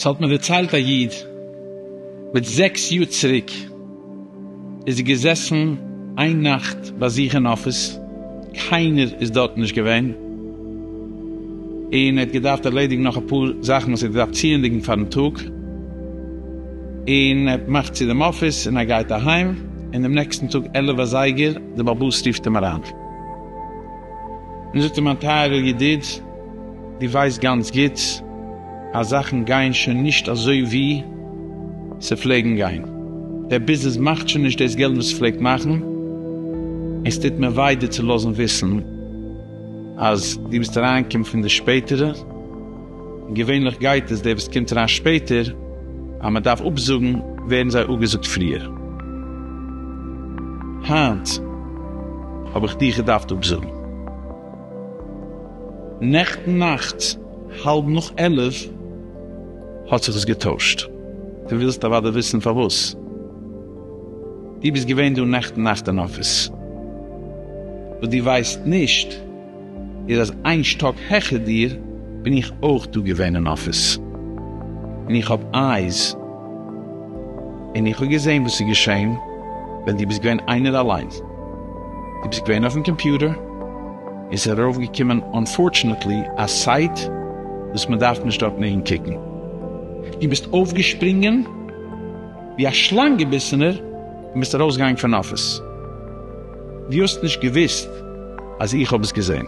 ס'האט מיר דערציילט א איד, מיט זעקס יאר צוריק איז ער געזעסן איין נאכט ביי זיך אין אפיס, קיינער איז דארט נישט געווען, און ער האט געדארפט ערלעדיגן נאך אפאר זאכן וואס ער האט געדארפט צוענדיגן פארן טאג, און ער מאכט צו דעם אפיס און ער גייט אהיים, און דעם נעקסטן טאג עלף אזייגער די בעל באס רופט אים אריין, און זאגט אים מיין טייערער ידיד דו ווייסט גאנץ גוט אז זאכן גייען שוין נישט אזוי ווי ס'פלעגן גיין, דער ביזנעס מאכט שוין נישט דאס געלט וואס ס'פלעגט מאכן, און ס'טוט מיר וויי דיר צו לאזן וויסן אז דו ביסט אריינגעקומען פון די שפעטערע. געווענליך גייט עס, דער וואס קומט אריין שפעטער, אז מען דארף אפזאגן ווערן זיי אפגעזאגט פריער. היינט האב איך דיך געדארפט אפזאגן. נעכטן נאכט האלב נאך עלף האט זיך עס געטוישט. דו ווילסט אוודאי וויסן פארוואס. דו ביסט געווען דא נעכטן נאכט אין אפיס, וואס דו ווייסט נישט. איז אז איין שטאק העכער דיר בין איך אויך דא געווען אין אפיס, און איך האב אייז, און איך האב געזען וואס איז געשען ווען דו ביסט געווען איינער אליין, דו ביסט געווען אויפן קאמפיוטער, און ס'איז ארויף געקומען אנפארטשענעטלי א סייט וואס מען דארף נישט דארט מעגן קוקן, דו ביסט אויפגעשפרינגען ווי א שלאנג געביסענער און ביסט ארויסגעגאנגען פון אפיס. דו האסט נישט געוויסט אז איך האב עס געזען.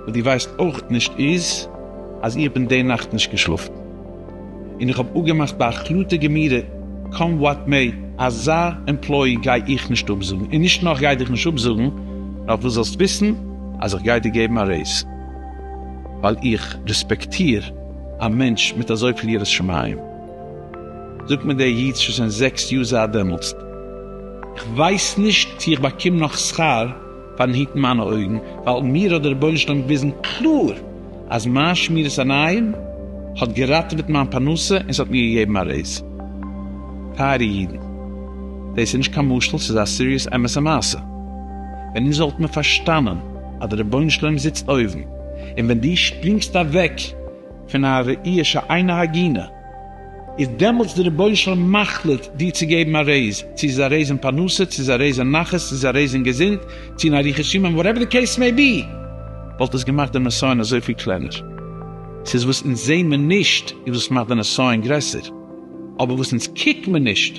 וואס דו ווייסט אויך נישט איז אז איך בין די נאכט נישט געשלאפן, און איך האב אפגעמאכט ביי החלטה גמירה קאם וואט מעי, אזא עמפלאי גיי איך נישט אפזאגן, און נישט נאר כ'גיי דיך נישט אפזאגן, נאר דו זאלסט וויסן אז איך גיי דיר געבן א רעיז, ווייל איך רעספעקטיר א מענטש מיט אזויפיל יראת שמים. זאגט מיר דער איד שוין זיין זעקס יאר זייט דעמאלסט, איך ווייס נישט צו איך באקום נאך שכר פארן היטן מיינע אויגן, ווייל מיר האט דער רבונו של עולם געוויזן קלאר אז מיין שמירת עיניים האט געראטעוועט מיין פרנסה און ס'האט מיר געגעבן א רעיז. טייערע אידן, דאס איז נישט קיין משל, ס'איז א סיריעס אמת'ע מעשה. ווען אונז וואלטן מיר פארשטאנען אז דער רבונו של עולם זיצט אויבן, און ווען דו שפרינגסט אוועק, פון א ראי' שאינה הגינה, איז דעמאלטס די רבונו של עולם מחליט דיר צו געבן א רעיז, צו ס'איז א רעיז אין פרנסה, צו ס'איז א רעיז אין נחת, צו ס'איז א רעיז אין געזונט, צו אין אריכות ימים, וואטעווער די קעיס מעי בי, וואלט עס געמאכט די נסיון אזויפיל קלענער. ס'איז וואס אונז זעמער נישט איז וואס מאכט די נסיון גרעסער, אבער וואס אונז קוקט מיר נישט,